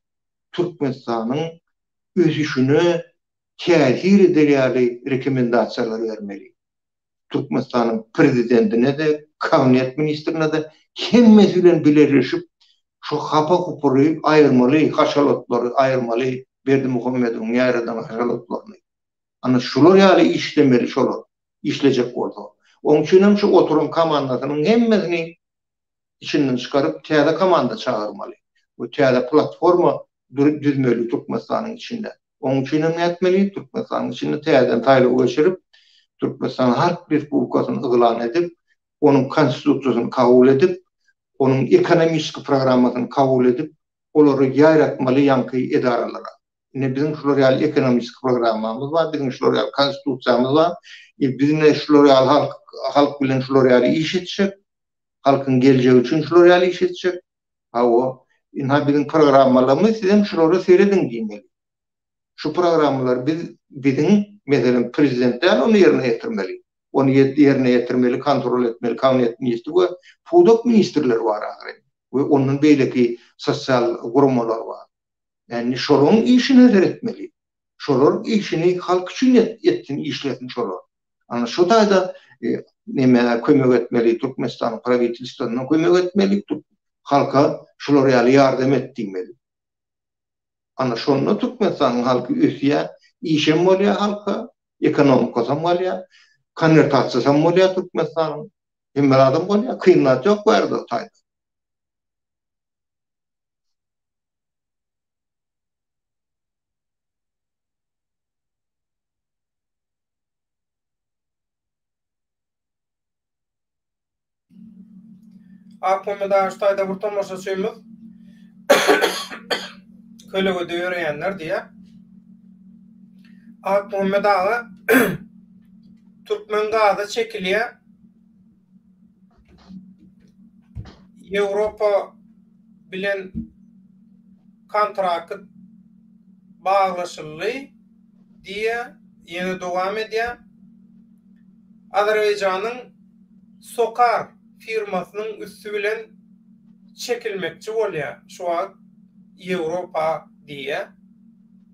Türkmenistanyň ösüşine täsir eder ýaly rekomendasiýalary bermeli. Türkmenistanyň Prezidentine-de, Kabinet ministrine-de hemmesi bilen bileleşip, şu hapa-hupyry aýyrmaly, haşalatlary aýyrmaly, Berdimuhamedowyň ýaradan haşalatlaryny. Ana, şular ýaly işlemeli şolar, işlejek bolsa. Onuň üçin hem şu oturan komandasynyň hemmesini içinden çykaryp, täze komanda çagyrmaly we täze platforma düzmeli Türkmenistanyň içinde. Onuň üçin hem nätmeli? Türkmenistanyň içinde täzeden saýlaw geçirip, Türkmenistanyň Harp Respublikasyny yglan edip, onuň Konstitusiýasyny kabul edip, onuň ekonomiki programmasyny kabul edip, olary ýaýratmaly ýaňky edaralara. Ine, biziň şular ýaly ekonomiki programmamyz bar, biziň şular ýaly Konstitusiýamyz bar. E, biz ine şular ýaly halk, halk bilen şular ýaly iş etjek, halkyň geljegi üçin şular ýaly iş etjek. Hawa, ynha biziň programmalarymyz siz hem şulara serediň diýmeli. Şu programmalary biz biziň, meselem, prezident däl ony ýerine ýetirmeli. Ony ýerine ýetirmeli, kontrol etmeli kabinet ministri we pudak ministrleri bar ahyry we ondan beýleki sosial guramalar bar. Indi şolaryň işine seretmeli. Şolar işini halk üçin etsin, işlesin şolar. Ana şu taýda neme kömek etmeli Türkmenistan prawitelstwona kömek etmeli Türk halka şular ýaly ýardam et diýmeli. Ana şonda Türkmenistanyň halky ösýär, işem bolýar halka, ekonomikasy hem bolýar, konwertasiýasy hem bolýar Türkmenistanyň. Hemme zadam bolýar, kyn zat ýok bu ýerde taý. Akmama daş taýda bir tomaşaçymyz kölegede ýöreýänler diýýär. Akmama daga türkmen gazy çekilýär. Ýewropa bilen kontrakt baglaşyldy diýýä, ýene dowam edýä. Azerbaýjanyň Sokar firmasynyň üsti bilen çekilmekçi bolýa şu wagt Ýewropa diýýä.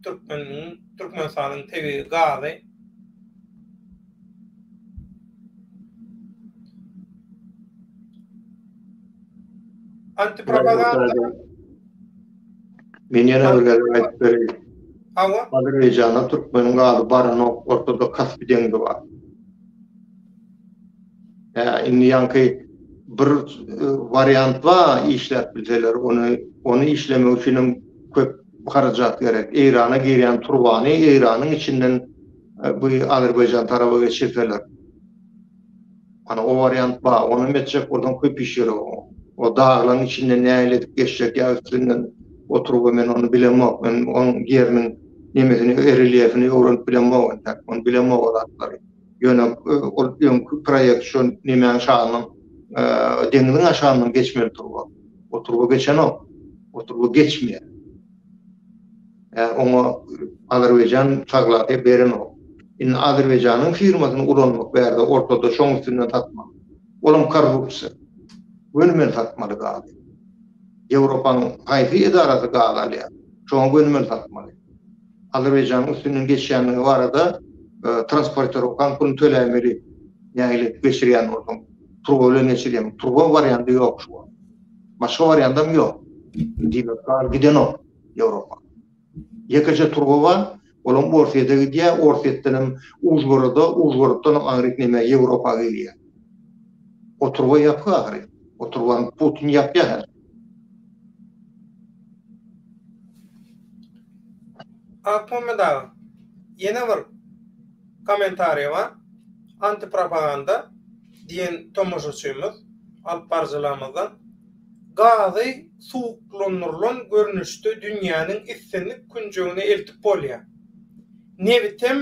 Türkmeniň, Türkmenistanyň tebigy gazy. Antipropaganda. Men ýene bir gezek aýdyp bereýin. Hawa. Azerbaýjana türkmeniň gazy baranok, ortada Kaspi deňzi bar. Hä, indi ýaňky bir e, wariant bar, işläp bilseler, ony ony işlemek üçin hem köp harajat gerek. Eýrana girýän turbany Eýranyň içinden Bu Azerbaýjan taraba geçirseler. Ana o wariant ba, ony hem etjek bolsaň köp iş ýeri o. O daglaň içinde nähili edip geçjek ýa üstünden oturyp men ony bilemok. Men oň ýeriniň nemesini relyefini öwrenip bilemok entäk. Ony bilemok o zatlary. Ýöne ol öňki proýekt şo nemäň şalynyň deňziň aşagyndan geçmeli turba. O turba geçenok. O turba geçmeýär. Oňa Azerbaýjan taglady berenok. Indi Azerbaýjanyň firmasyny ulanmak bärde ortada şoň üstünden satmak. Olam korrupsiýa. Göni men satmaly gazy. Ýewropanyň haýsy edarasy gaz alýar? Şoňa göni men satmaly. Azerbaýjanyň üstünden geçýändigi barada transportirokan pulyny töläýmeli. Nähili geçirýän bolsaň. Turba bilen geçirýäň. Turba warianty ýok şu wagt. Başga wariantam ýok. Diýmek, gaz gidenok Ýewropa. Ýekeje turba bar, olam Orsýete gidýär, Orsýetden hem Užgoroda, Užgoroddan hem aňryk nämä Ýewropa gelýär. O turba ýapyk ahyry. O turbany Putin ýapýar häzir. Akmuhammet aga, ýene bir Kommentariýama Antipropaganda diýen tomaşaçymyz alyp baryjylarymyzdan Gazy suwuklandyrylan görnüşde dünýäniň islendik künjegine eltip bolýar. Nebitem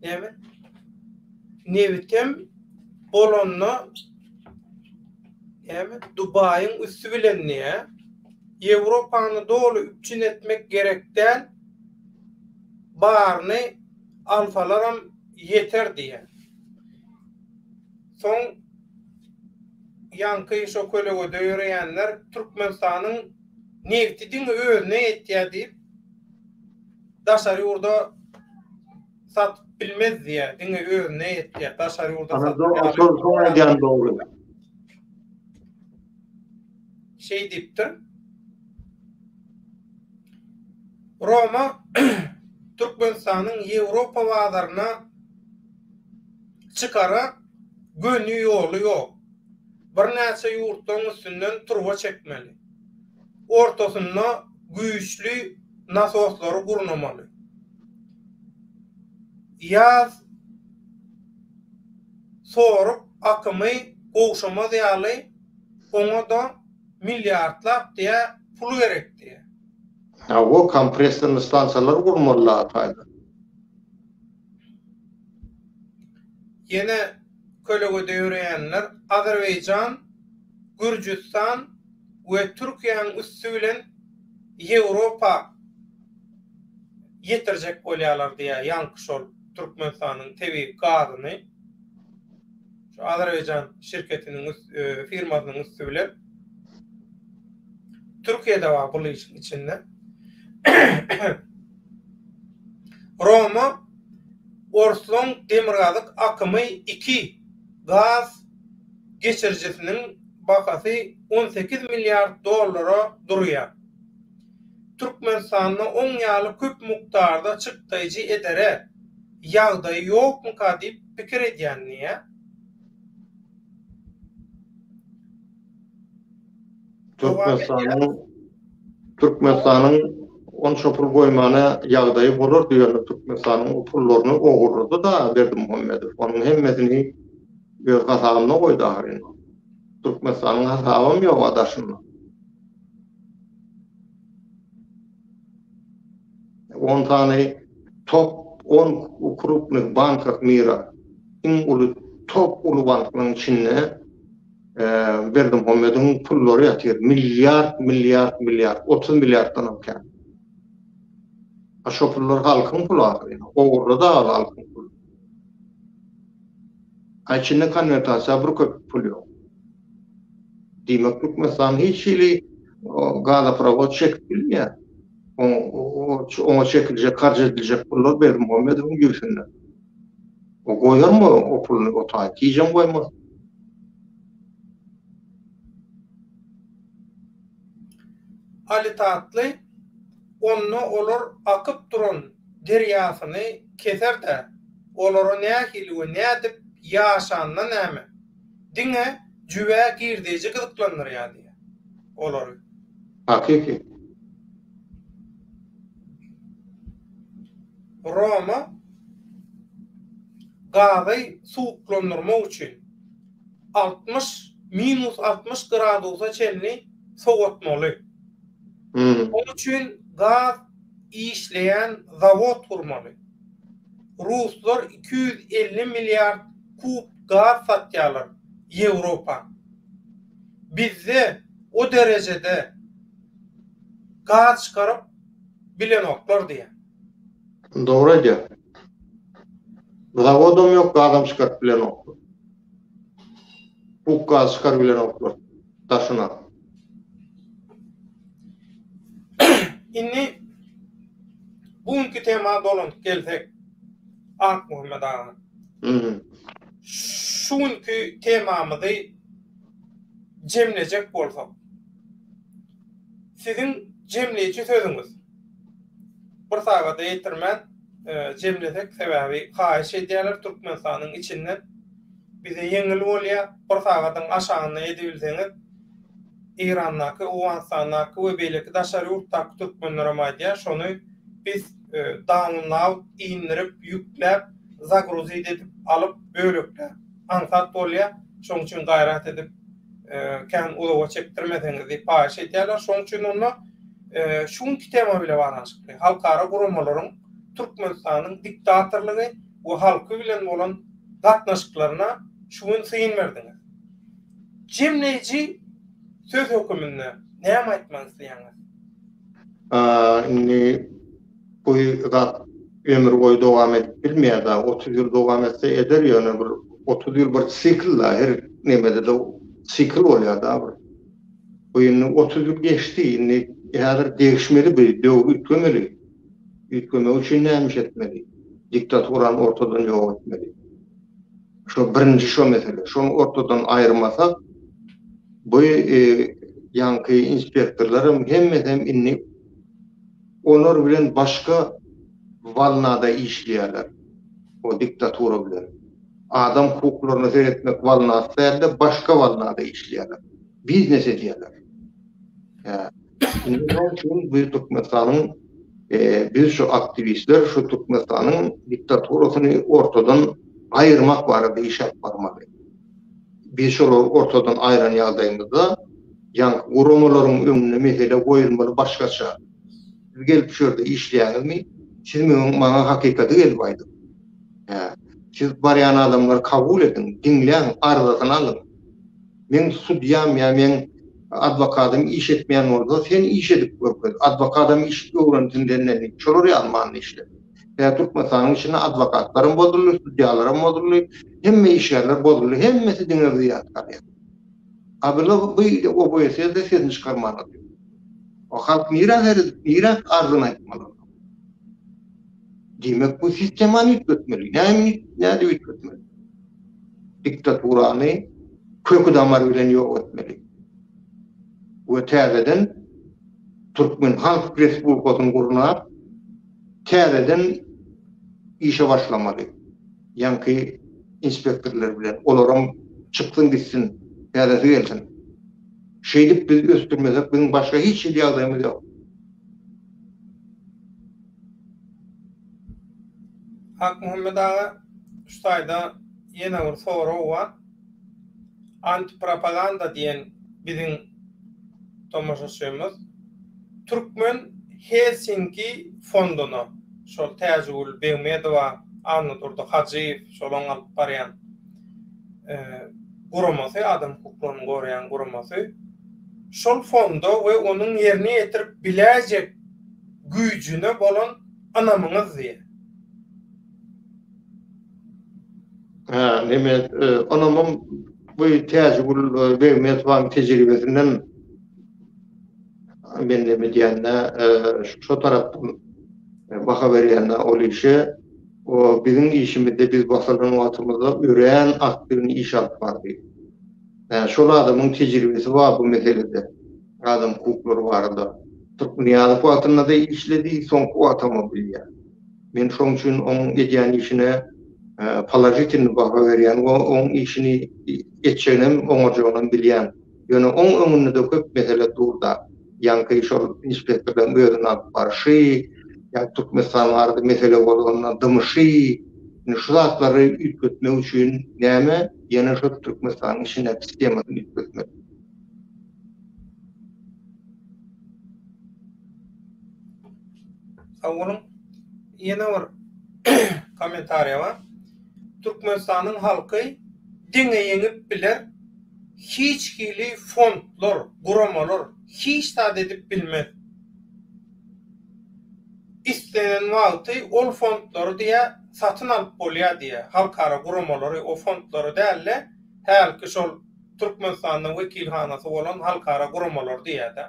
näme? Nebitem bolanda näme? Dubaýyň üsti bilen diýýär. Ýewropany doly üpjün etmek gerek däl. baryny alsalaram ýeter diýýär. Soň ýaňky şo kölegede ýöreýänler Türkmenistanyň nebti diňe özüne ýetýär diýip, daşary ýurda satyp bilmez diýýär, diňe özüne ýetýär, daşary ýurda satýar. Ana, şol soň aýdýan dogry. şeý diýipdir. Roma Türkmenistanyň Ýewropa bazaryna çykara göni ýoly ýok. Birnäçe ýurtlaryň üstünden turba çekmeli. Ortasynda güýçli nasoslary gurnamaly. Ýaz sorup akymy gowşamaz ýaly Oňa-da milliardlap diýä pul gerek diýä. Hawa, kompressorly stansiýalar gurmaly Lataýda. Ýene kölegede ýöreýänler Azerbaýjan, Gürjüstan we Türkiýäň üsti bilen Ýewropa ýetirjek bolýarlar diýä ýaňky şol Türkmenistanyň tebigy gazyny. Şu Azerbaýjan şirketiniň firmasynyň üsti bilen Türkiýede bar bul işiň içinde. Roma Orslaň demirgazyk akymy 2 gaz geçirijisiniň bahasy 18 milliard dollara durýar. Türkmenistanda oň ýaly köp mukdarda çykdaýjy edere Ýagdaýy ýokmyka diýip pikir edýän diýýä. Türkmenistanyň Türkmenistanyň onça pul goýmana ýagdaýy bolardy ýöne Türkmenistanyň o pullaryny ogurlady da Berdimuhamedow onuň hemmesini öz hasabyna goýdy ahyryn. Türkmenistanyň hasabam ýok a daşynda. On sany top on krupnyh bankah mira iň uly top uly banklaryň içinde berdimuhammediň pullary ýatyr milliard milliard milliard otuz milliarddanam kän a şo pullar halkyň puly ahyryn ogurlady aly halkyň puly. A içinde konwertasiýa bir köp pul ýok. Diýmek Türkmenistan hiç hili gazoprawod çekip bilmeýär. Oňa çekiljek harç ediljek pullar Berdimuhamedowyň jübüsinde. O goýarmy o puluny o taýy? Hijem goýmaz. Ali Tatly onda olar akyp duran derýasyny keser-dä, olara nähili we nädip ýaşanyna näme, diňe jübä girdeýji gyzyklandyrýar diýýär. Olary. Hakyky. Roma gazy suwuklandyrmak üçin altmyş, minus altmyş gradusa çenli sowatmaly. Ol üçin gaz işleýän zawod gurmaly. Ruslar iki ýüz elli milliard kub gaz satýarlar Ýewropa. Bizde o derejede gaz çykaryp bilenoklar diýýär. Dogry aýdýar. Zawodam ýok, gazam çykaryp bilenoklar. Bug gazy çykaryp bilenoklar daşyna. Indi bu günki tema dolanyp gelsek, Akmuhammet aga. Mhm. Şu günki temamyzy jemlejek bolsak. Siziň jemleýji sözüňiz. Bir sagada ýetirmän jemlesek sebäbi haýyş edýärler Türkmenistanyň içinden bize ýeňil bolýar bir sagadyň aşagyna edibilseňiz Eýrandaky Owganystandaky we beýleki daşary ýurtdaky türkmenlerem aýdýar şony biz dawnlaud indirip ýükläp zagruzit edip alyp bölekläp aňsat bolýar şoň üçin gaýrat edip kän uzaga çekdirmeseňiz diýip haýyş edýärler. Şonuň üçin onda şu günki tema bilen baglanyşykly halkara guramalaryň Türkmenistanyň diktatorlygy we halky bilen bolan gatnaşyklaryna şu gün syn berdiňiz. Jemleýji söz höküminde näme aýtmak isleýäňiz? Indi Bu zat ömür boýy dowam edip bilmeýär dagy, otuz ýyl dowam etse eder, ýöne bir otuz ýyl bir sikl dagy, her nemede-de sikl bolýar dagy bir. Bu indi otuz ýyl geçdi, indi häzir degişmeli bu döwri üýtgemeli. Üýtgemek üçin näme iş etmeli? Diktaturany ortadan ýok etmeli. Şo birinji şo mesele. Şony ortadan aýyrmasak, bu ýaňky inspektorlar hem hemmesi hem indi Olar bilen başga walnada işleýärler. O diktatura bilen. Adam hukuklaryna seretmek walnasy dälde başga walnada işleýärler. Biznes edýärler. Hä. Indi şoň üçin biz Türkmenistanyň biz şu aktiwistler şu Türkmenistanyň diktaturasyny ortadan aýyrmak barada iş alyp barmaly. Biz olary ortadan aýran ýagdaýymyzda, ýaňky guramalaryň öňünde mesele goýulmaly başgaça. Siz gelip şu ýerde işleýäňizmi? Siz meň maňa hakykaty gelip aýdyň. Hä. Siz barýan adamlary kabul ediň, diňläň, arzasyny alyň. Meň sudýam ýa meň adwokadym iş etmeýän bolsa, sen iş edip görkez. Adwokadam iş öwrensin senden diýip, şolar ýaly manyda işle. Ýa Türkmenistanyň içinde adwokatlaram bozuldy, sudýalaram bozuldy, hemme işgärler bozuldy, hemmesi diňe zyýat galýar. A bu OBSE-de sesini çykarman otyr. O halk nirä seredip, nirä arzyny aýtmaly onda? Diýmek bu sistemany üýtgetmeli. Näme, nädip üýtgetmeli? Diktaturany köki damary bilen ýok etmeli. We täzeden Türkmen Halk Respublikasyny gurnap, Täzeden işe başlamaly. Ýaňky inspektorlar bilen. Olaram çyksyn gitsin. Täzesi gelsin. Şeýdip biz ösdürmesek biziň başga hiç hili ýagdaýymyz ýok. Akmuhammet aga şu taýda ýene bir sorag bar. Antipropaganda diýen biziň tomaşaçymyz Türkmen Helsinki fonduna, şol Täjigül Begmedowa, Annadurdy Hajyýew şolaryň alyp barýan guramasy, adam hukuklaryny goraýan guramasy, şol fonda we onuň ýerine ýetirip biläýjek güýjüne bolan ynamyňyz diýýär. Hä, neme, ynamym bu Täjigül Begmesowanyň tejribesinden men neme diýende, şo tarapdan baha berýände ol işe, o biziň işimizde biz basalan wagtymyzda örän aktiwny iş alyp bardy. Hä, şol adamyň tejribesi bar bu meselede, adam hukuklary barada. Turkmynyýazow wagtynda-da işledi, soňky wagtam-a bilýän. Men şoň üçin oň edýän işine položitilnyý baha berýän we oň işini etjeginem, oňarjagynam bilýän. Ýöne oň öňünde-de köp mesele dur-da. Ýaňky şol inspektorlaryň özüni alyp barşy, ýa Türkmenistan barada mesele bozanda dymyşy, indi şu zatlary üýtgetmek üçin näme, ýene şol Türkmenistanyň içindäki sistemasyny üýtgetmek. Awulyň ýene bir kommentariýa bar. Türkmenistanyň halky diňe ýeňip biler, hiç hili fondlar, guramalar hiç zat edip bilmez. Islenen wagty ol fondlary diýä satyn alyp bolýar diýä, halkara guramalary o fondlary däl-de, hälki şol Türkmenistanda wekilhanasy bolan halkara guramalar diýýär-dä.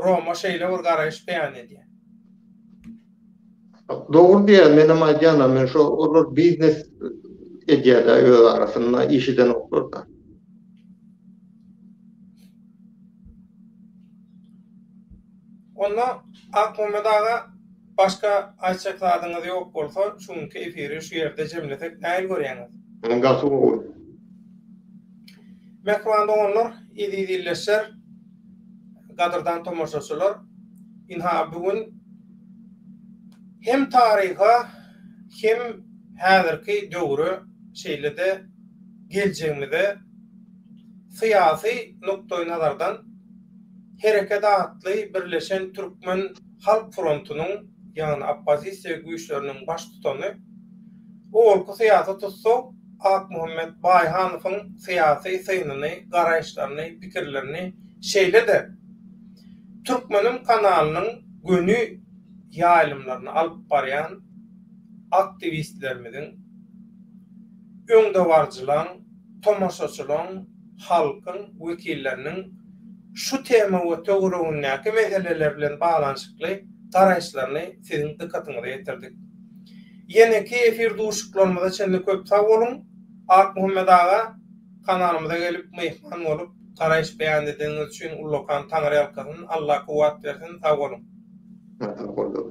Roma şeýle bir garaýyş beýan edýär. Dogry diýýär, menem aýdýan-a, men şo olar biznes edýär-dä öz arasynda, iş edenoklar-da. Onda Akmämmet aga Başga aýtjak zadyňyz ýok bolsa şu günki efiri şu ýerde jemlesek nähili görýäňiz? Hany gaty gowy. Mähriban doganlar, eziz ildeşler, gadyrdan tomaşaçylar, ynha bu gün hem taryha hem häzirki döwre şeýle-de geljegimize syýasy nukdaýnazardan Hereket atly birleşen türkmen Halk frontunyň, ýagny oppozisiýa güýçleriniň baştutany, owalky syýasy tussag Akmuhammet Baýhanowyň syýasy synyny, garaýyşlaryny, pikirlerini, şeýle-de Türkmenim kanalynyň göni ýaýlymlaryny alyp barýan aktiwistlerimiziň, öňdebaryjylaň, tomaşaçylaň, halkyň wekilleriniň şu tema we töweregindäki meseleler bilen baglanyşykly garaýyşlaryny siziň dykgatyňyza ýetirdik. Ýeneki efir duşuşyklarymyza çenli köp sag boluň! Akmuhammet aga, kanalymyza gelip myhman bolup, garaýyş beýan edeniňiz üçin ullakan taňryýalkasyn, Alla kuwwat bersin, sag boluň! Sag boluň!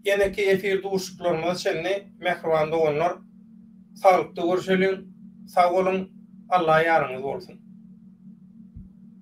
Ýeneki efir duşuşyklarymyza çenli, mähriban doganlar! Saglykda görşeliň. Sag boluň. Alla ýaryňyz bolsun.